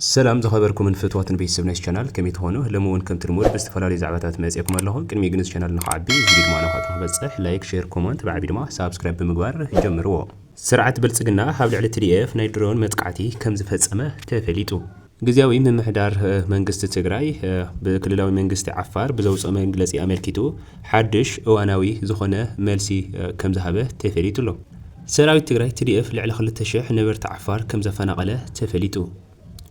ሰላም ዝኸበርኩምን ፍትዋትን ቤተሰብ ናይዚ ቻናል ከመይ ትኾኑ ሎሚ ውን ከምቲ ልሙድ ብዝተፈላለዩ ዛዕባታት መጼኩም ኣለኹ ቅድሚ ግን እዚ ቻናል ንኽዓቢ እዚ ቪድዮ ድማ ናኻትኩም ክበጽሕ ላይክ ሼር ኮሞንት ብዓቢ ድማ ሳብስክራይብ ብምግባር ጀምርዎ። ስርዓት ብልጽግና ኣብ ልዕሊ ትዲኤፍ ናይ ድሮን መጥቃዕቲ ከምዝፈጸመ ተፈሊጡ። ግዝያዊ ምምሕዳር መንግስቲ ትግራይ ብክልላዊ መንግስቲ ዓፋር ብዘውጽኦ መግለጺ ኣመልኪቱ ሓድሽ እዋናዊ ዝኾነ መልሲ ከምዝሃበ ተፈሊጡ ኣሎ። ሰራዊት ትግራይ TDF ልዕሊ ክልተ ሽሕ ነበርቲ ዓፋር ከምዘፈናቐለ ተፈሊጡ።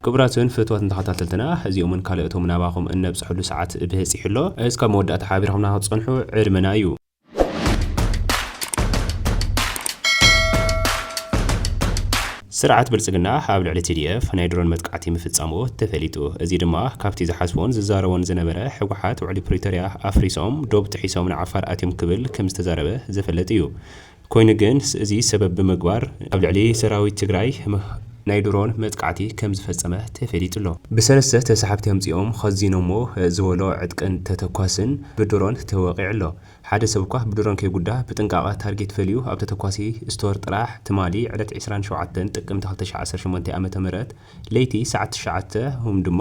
ክቡራትን ፍትዋትን ተኸታተልትና እዚኦምን ካልኦቶምን ናባኹም እነብጽሐሉ ሰዓት ብህጺሑ ኣሎ እስካብ መወዳእታ ሓቢርኹምና ክትጸንሑ ዕድመና እዩ። ስርዓት ብልጽግና ኣብ ልዕሊ TDF ናይ ድሮን መጥቃዕቲ ምፍጻሙ ተፈሊጡ። እዚ ድማ ካብቲ ዝሓስቦን ዝዛረቦን ዝነበረ ህወሓት ውዕሊ ፕሪቶርያ ኣፍሪሶም ዶብ ጥሒሶም ንዓፋር ኣትዮም ክብል ከምዝተዛረበ ዝፍለጥ እዩ። ኮይኑ ግን እዚ ሰበብ ብምግባር ኣብ ልዕሊ ሰራዊት ትግራይ ናይ ድሮን መጥቃዕቲ ከምዝፈፀመ ተፈሊጡ'ሎ። ብሰለስተ ተሳሓብቲ ኣምፂኦም ኸዚኖሞ ዝበሎ ዕጥቅን ተተኳስን ብድሮን ተወቒዑ'ሎ። ሓደ ሰብ'ኳ ብድሮን ከይጉዳእ ብጥንቃቐ ታርጌት ፈልዩ ኣብ ተተኳሲ ስቶር ጥራሕ ትማሊ ዕለት ዕስራን ሸውዓተን ጥቅምቲ ክልተ ሽሕን ዓሰርተ ሸሞንተን ዓ.ም ለይቲ ሰዓት ትሽዓተ ሁም ድማ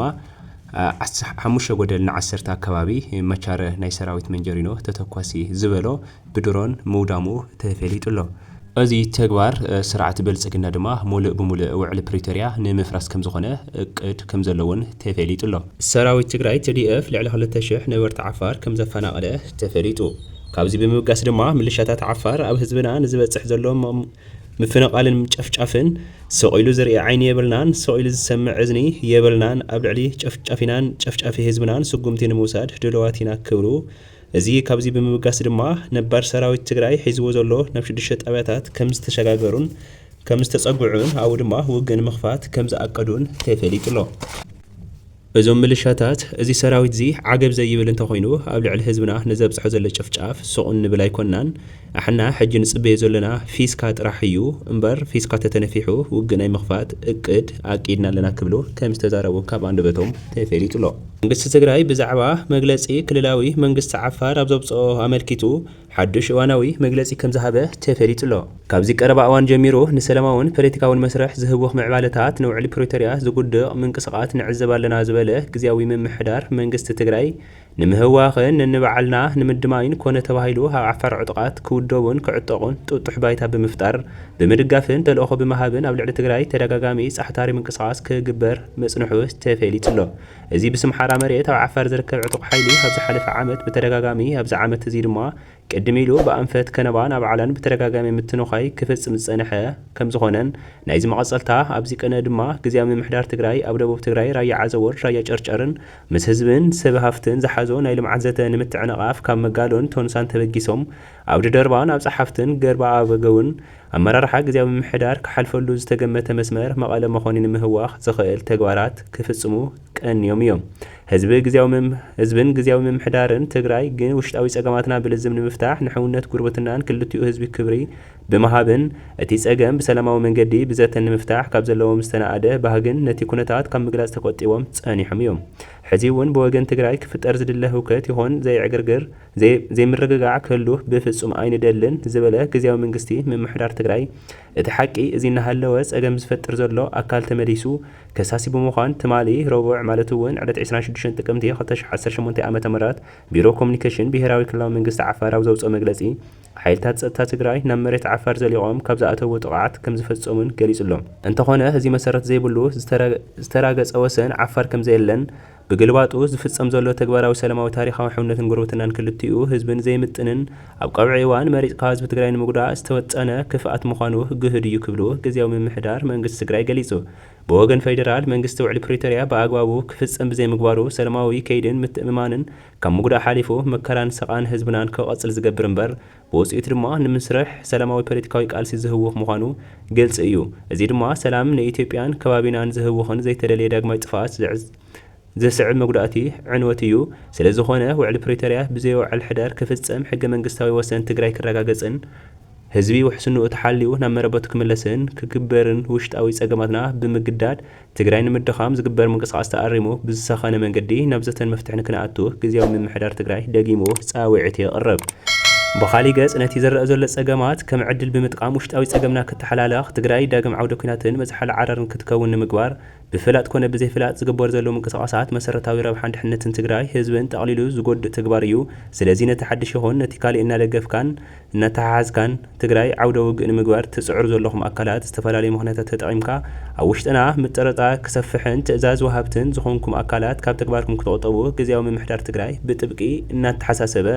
ዓስ ሓሙሽተ ጎደል ንዓሰርተ ኣከባቢ መቻረ ናይ ሰራዊት መንጀሪኖ ተተኳሲ ዝበሎ ብድሮን ምውዳሙ ተፌሊጡ'ሎ። እዚ ተግባር ስርዓት ብልጽግና ድማ ሙልእ ብሙልእ ውዕሊ ፕሪቶርያ ንምፍራስ ከምዝኾነ እቅድ ከምዘሎ'ውን ተፌሊጡ'ሎ። ሰራዊት ትግራይ፣ tdf፣ ልዕሊ ክልተ ሽሕ ነበርቲ ዓፋር ከምዘፈናቐለ ተፈሊጡ። ካብዚ ብምብጋስ ድማ ምልሻታት ዓፋር ኣብ ህዝብና ንዝበጽሕ ዘሎ ምፍንቓልን ምጨፍጫፍን ስቕ ኢሉ ዝርኢ ዓይኒ የብልናን፣ ስቕ ኢሉ ዝሰምዕ እዝኒ የብልናን፣ ኣብ ልዕሊ ጨፍጫፊናን ጨፍጫፊ ህዝብናን ስጉምቲ ንምውሳድ ድሉዋት ኢና ክብሉ እዚ ካብዚ ብምብጋስ ድማ ነባር ሰራዊት ትግራይ ሒዝዎ ዘሎ ናብ ሽዱሽተ ጣብያታት ከምዝተሸጋገሩን ከምዝተፀግዑን ኣብኡ ድማ ውግእ ንምኽፋት ከምዝኣቀዱን ተፈሊጡ'ሎ። እዞም ምልሻታት እዚ ሰራዊትዚ ዓገብ ዘይብል እንተኾይኑ ኣብ ልዕሊ ህዝብና ንዘብጽሖ ዘሎ ጭፍጫፍ ሱቕ እንብል ኣይኮናን ኣሕና ሕጂ ንጽበዮ ዘሎና ፊስካ ጥራሕ እዩ እምበር ፊስካ ተተነፊሑ ውግእ ናይ ምኽፋት እቅድ ኣቂድና ኣለና ክብሉ ከምዝተዛረቡ ካብ ኣንደበቶም ተፌሊጡሎ። መንግስቲ ትግራይ ብዛዕባ መግለጺ ክልላዊ መንግስቲ ዓፋር ኣብ ዘውጽኦ ኣመልኪቱ፣ ሓዱሽ እዋናዊ መግለጺ ከምዝሃበ ተፈሊጡ'ሎ። ካብዚ ቀረባ እዋን ጀሚሩ ንሰላማውን ፖለቲካውን መስርሕ ዝህውኽ ምዕባለታት ንውዕሊ ፕሪቶርያ ዝጉድቕ ምንቅስቓት ንዕዘብ ኣለና ዝበለ ግዝያዊ ምምሕዳር መንግስቲ ትግራይ ንምህዋኽን ነንባዕልና ንምድማይን ኮነ ተባሂሉ ኣብ ዓፋር ዕጡቓት ክውደቡን ክዕጠቑን ጥጡሕ ባይታ ብምፍጣር ብምድጋፍን ተልእኾ ብምሃብን ኣብ ልዕሊ ትግራይ ተደጋጋሚ ጻሕታሪ ምንቅስቓስ ክግበር ምጽንሑ ተፈሊጡ'ሎ። እዚ ብስም ሓራ መሬት ኣብ ዓፋር ዝርከብ ዕጡቕ ሓይሊ ኣብ ዝሓለፈ ዓመት ብተደጋጋሚ ኣብዚ ዓመት እዚ ድማ ቅድም ኢሉ ብኣንፈት ከነባን ኣብ ዓላን ብተደጋጋሚ ምትንዃይ ክፍጽም ዝጸንሐ ከምዝኾነን ናይዚ መቐጸልታ ኣብዚ ቅነ ድማ ግዝያዊ ምምሕዳር ትግራይ ኣብ ደቡብ ትግራይ ራያ ዓዘቦን ራያ ጨርጨርን ምስ ህዝብን ሰብ ሃፍትን ዝሓዞ ናይ ልምዓት ዘተ ንምትዕንቓፍ ካብ መጋሎን ቶንሳን ተበጊሶም ኣብ ድደርባን ኣብ ጸሓፍትን ገርበኣበገውን ኣመራርሓ ግዝያዊ ምምሕዳር ክሓልፈሉ ዝተገመተ መስመር መቐለ መኾኒ ንምህዋኽ ዝኽእል ተግባራት ክፍፅሙ ቀንዮም እዮም። ህዝቢ ግዝያዊ ህዝብን ግዝያዊ ምምሕዳርን ትግራይ ግን ውሽጣዊ ፀገማትና ብልዝብ ንምፍታሕ ንሕውነት ጉርብትናን ክልቲኡ ህዝቢ ክብሪ ብምሃብን እቲ ፀገም ብሰላማዊ መንገዲ ብዘተን ንምፍታሕ ካብ ዘለዎም ዝተናኣደ ባህግን ነቲ ኩነታት ካብ ምግላፅ ተቆጢቦም ፀኒሖም እዮም። ሕዚ'ውን ብወገን ትግራይ ክፍጠር ዝድለ ህውከት ይኹን ዘይዕግርግር ዘይምርግጋዕ ክህሉ ብፍፁም ኣይንደልን ዝበለ ግዝያዊ ምንግስቲ ምምሕዳር ትግራይ እቲ ሓቂ እዚ እናሃለወ ፀገም ዝፈጥር ዘሎ ኣካል ተመሊሱ ከሳሲ ብምዃን ትማሊ ረቡዕ ማለት እውን ዕለት ዕስራን ሽዱሽተን ጥቅምቲ ክልተ ሽሕ ዓሰርተ ሸሞንተ ዓ ም ቢሮ ኮሙኒኬሽን ብሄራዊ ክልላዊ መንግስቲ ዓፋር ኣብ ዘውፅኦ መግለፂ ሓይልታት ፀጥታ ትግራይ ናብ መሬት ዓፋር ዘሊቖም ካብ ዝኣተዉ ጥቕዓት ከምዝፈፀሙን ገሊፁ ኣሎ። እንተኾነ እዚ መሰረት ዘይብሉ ዝተራገፀ ወሰን ዓፋር ከምዘየለን፣ ብግልባጡ፣ ዝፍጸም ዘሎ ተግባራዊ ሰላማዊ ታሪኻዊ ሕውነትን ጉርብትናን ክልቲኡ ህዝብን ዘይምጥንን ኣብ ቀውዒ እዋን መሪጽካ ህዝቢ ትግራይ ንምጉዳእ ዝተወጠነ ክፍኣት ምዃኑ ግህድ እዩ ክብሉ ግዝያዊ ምምሕዳር መንግስቲ ትግራይ ገሊጹ። ብወገን ፌደራል መንግስቲ ውዕሊ ፕሪቶርያ ብኣግባቡ ክፍጸም ብዘይምግባሩ ሰላማዊ ከይዲን ምትእምማንን ካብ ምጉዳእ ሓሊፉ መከራን ሰቓን ህዝብናን ክቐጽል ዝገብር እምበር ብውጽኢቱ ድማ ንምስርሕ ሰላማዊ ፖለቲካዊ ቃልሲ ዝህውኽ ምዃኑ ግልጺ እዩ። እዚ ድማ ሰላም ንኢትዮጵያን ከባቢናን ዝህውኽን ዘይተደልየ ዳግማይ ጥፍኣት ዘስዕብ መጉዳእቲ ዕንወት እዩ። ስለዝኾነ ውዕሊ ፕሪቶርያ ብዘይወዓል ሕደር ክፍጸም፣ ሕገ መንግስታዊ ወሰን ትግራይ ክረጋገጽን ህዝቢ ውሕስንኡ ተሓልዩ ናብ መረበቱ ክምለስን ክግበርን ውሽጣዊ ጸገማትና ብምግዳድ ትግራይ ንምድኻም ዝግበር ምንቅስቓስ ተኣሪሙ ብዝሰኸነ መንገዲ ናብ ዘተን መፍትሕን ክነኣቱ ግዝያዊ ምምሕዳር ትግራይ ደጊሙ ፃውዒት የቕርብ። ብኻሊእ ገፅ ነቲ ዝረኣ ዘሎ ፀገማት ከም ዕድል ብምጥቃም ውሽጣዊ ፀገምና ክተሓላለኽ፣ ትግራይ ዳግም ዓውደ ኲናትን መዝሓሊ ዓረርን ክትከውን ንምግባር ብፍላጥ ኮነ ብዘይፍላጥ ዝግበሩ ዘለዉ ምንቅስቓሳት መሰረታዊ ረብሓን ድሕነትን ትግራይ ህዝብን ጠቕሊሉ ዝጎድእ ተግባር እዩ። ስለዚ ነቲ ሓድሽ ይኹን ነቲ ካሊእ እናደገፍካን እናተሓሓዝካን ትግራይ ዓውደ ውግእ ንምግባር ትፅዕሩ ዘለኹም ኣካላት ዝተፈላለዩ ምኽንያታት ተጠቒምካ ኣብ ውሽጥና ምጥርጣር ክሰፍሕን ትእዛዝ ወሃብትን ዝኾንኩም ኣካላት ካብ ተግባርኩም ክትቑጠቡ ግዝያዊ ምምሕዳር ትግራይ ብጥብቂ እናተሓሳሰበ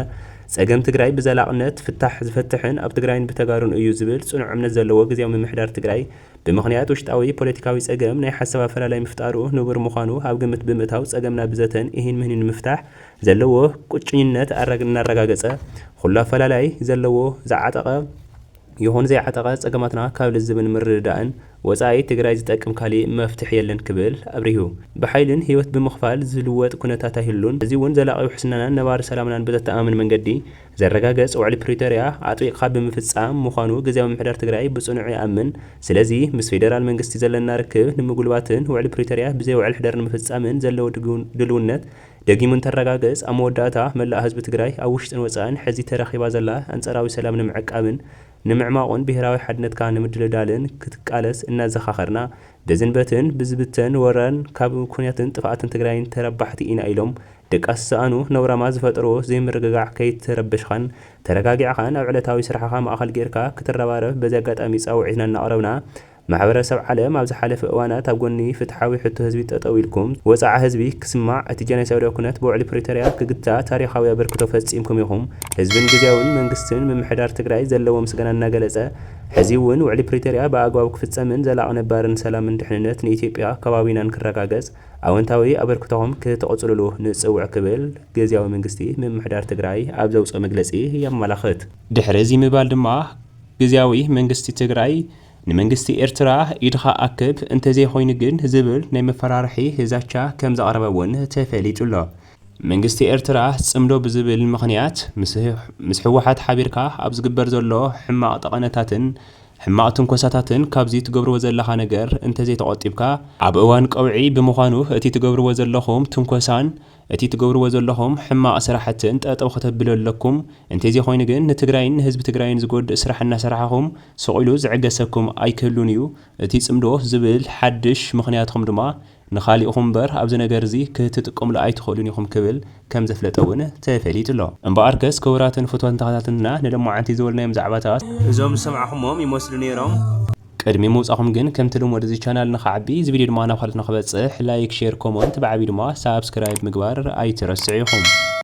ፀገም ትግራይ ብዘላቕነት ፍታሕ ዝፈትሕን ኣብ ትግራይን ብተጋሩን እዩ ዝብል ፅኑዕ እምነት ዘለዎ ግዝያዊ ምምሕዳር ትግራይ ብምኽንያት ውሽጣዊ ፖለቲካዊ ፀገም ናይ ሓሳብ ኣፈላላይ ምፍጣሩ ንቡር ምዃኑ ኣብ ግምት ብምእታው ፀገምና ብዘተን ኢሂን ምህኒን ንምፍታሕ ዘለዎ ቁጭኝነት እናረጋገፀ ኹሉ ኣፈላላይ ዘለዎ ዝዓጠቐ ይኹን ዘይዓጠቐ ፀገማትና ካብ ልዝብን ምርድዳእን ወፃኢ ትግራይ ዝጠቅም ካሊእ መፍትሒ የለን ክብል ኣብሪሁ። ብሓይልን ህይወት ብምኽፋል ዝልወጥ ኩነታት ኣይህሉን፣ እዚ እውን ዘላቒ ውሕስናናን ነባሪ ሰላምናን ብዘተኣማምን መንገዲ ዘረጋገፅ ውዕሊ ፕሪቶሪያ ኣጥቢቕኻ ብምፍፃም ምዃኑ ግዝያዊ ምምሕዳር ትግራይ ብፅኑዕ ይኣምን። ስለዚ ምስ ፌዴራል መንግስቲ ዘለና ርክብ ንምጉልባትን ውዕሊ ፕሪቶሪያ ብዘይ ውዕል ሕደር ንምፍፃምን ዘለዎ ድልውነት ደጊሙ እንተረጋገፅ ኣብ መወዳእታ መላእ ህዝቢ ትግራይ ኣብ ውሽጥን ወፃእን ሕዚ ተረኺባ ዘላ ኣንፃራዊ ሰላም ንምዕቃብን ንምዕማቑን ብሄራዊ ሓድነትካ ንምድልዳልን ክትቃለስ እናዘኻኸርና በዝን በትን ብዝብተን ወራን ካብ ኩናትን ጥፍኣትን ትግራይን ተረባሕቲ ኢና ኢሎም ድቃስ ዝሰኣኑ ነውራማት ዝፈጠርዎ ዘይምርግጋዕ ከይተረበሽኻን ተረጋጊዕኻን ኣብ ዕለታዊ ስራሕኻ ማእኸል ገይርካ ክትረባረብ በዚ ኣጋጣሚ ፃውዒትና እናቕረብና ማሕበረሰብ ዓለም ኣብ ዝሓለፈ እዋናት ኣብ ጎኒ ፍትሓዊ ሕቶ ህዝቢ ጠጠው ኢልኩም፣ ወጽዓ ህዝቢ ክስማዕ፣ እቲ ጀኖሳይዳዊ ኩነት ብውዕሊ ፕሪቶርያ ክግታእ ታሪኻዊ ኣበርክቶ ፈጺምኩም ኢኹም። ህዝብን ግዝያዊን መንግስትን ምምሕዳር ትግራይ ዘለዎ ምስጋና እናገለጸ፣ ሕዚ'ውን ውዕሊ ፕሪቶርያ ብኣግባቡ ክፍጸምን ዘላቒ ነባርን ሰላምን ድሕንነት ንኢትዮጵያ ከባቢናን ክረጋገጽ ኣወንታዊ ኣበርክቶኹም ክትቕጽሉሉ ንጽውዕ ክብል ግዝያዊ መንግስቲ ምምሕዳር ትግራይ ኣብ ዘውጽኦ መግለጺ የመላኽት። ድሕሪ እዚ ምባል ድማ ግዝያዊ መንግስቲ ትግራይ፣ ንመንግስቲ ኤርትራ ኢድኻ ኣክብ እንተዘይኾይኑ ግን ዝብል ናይ መፈራርሒ ዛቻ ከምዘቕረበ'ውን ተፈሊጡ'ሎ። መንግስቲ ኤርትራ ጽምዶ ብዝብል ምኽንያት ምስ ህወሓት ሓቢርካ ኣብ ዝግበር ዘሎ ሕማቕ ጠቐነታትን ሕማቕ ትንኮሳታትን ካብዚ ትገብርዎ ዘለኻ ነገር እንተዘይተቖጢብካ ኣብ እዋን ቀውዒ ብምዃኑ እቲ ትገብርዎ ዘለኹም ትንኮሳን እቲ ትገብርዎ ዘለኹም ሕማቅ ስራሕትን ጠጠው ከተብሉ ኣለኩም እንቴዜ ኮይኑ ግን ንትግራይን ንህዝቢ ትግራይን ዝጎድእ ስራሕ እናሰራሕኹም ስቅ ኢሉ ዝዕገሰኩም ኣይክህሉን እዩ እቲ ፅምዶ ዝብል ሓድሽ ምኽንያትኹም ድማ ንኻሊእኹም እምበር ኣብዚ ነገር እዚ ክትጥቀምሉ ኣይትኽእሉን ኢኹም ክብል ከምዘፍለጠ እውን ተፈሊጡ ኣሎ እምበኣርከስ ክቡራትን ፍትወትን ተኸታተልትና ንለማዓንቲ ዝበልናዮም ዛዕባታት እዞም ዝሰማዕኹሞም ይመስሉ ነይሮም። ቅድሚ ምውጻኹም ግን ከምቲ ልሙድ እዚ ቻናል ንኽዓቢ እዚ ቪድዮ ድማ ናብ ካልኦት ንኽበጽሕ ላይክ ሼር ኮሞንት ብዓብዩ ድማ ሳብስክራይብ ምግባር ኣይትረስዑ ኢኹም።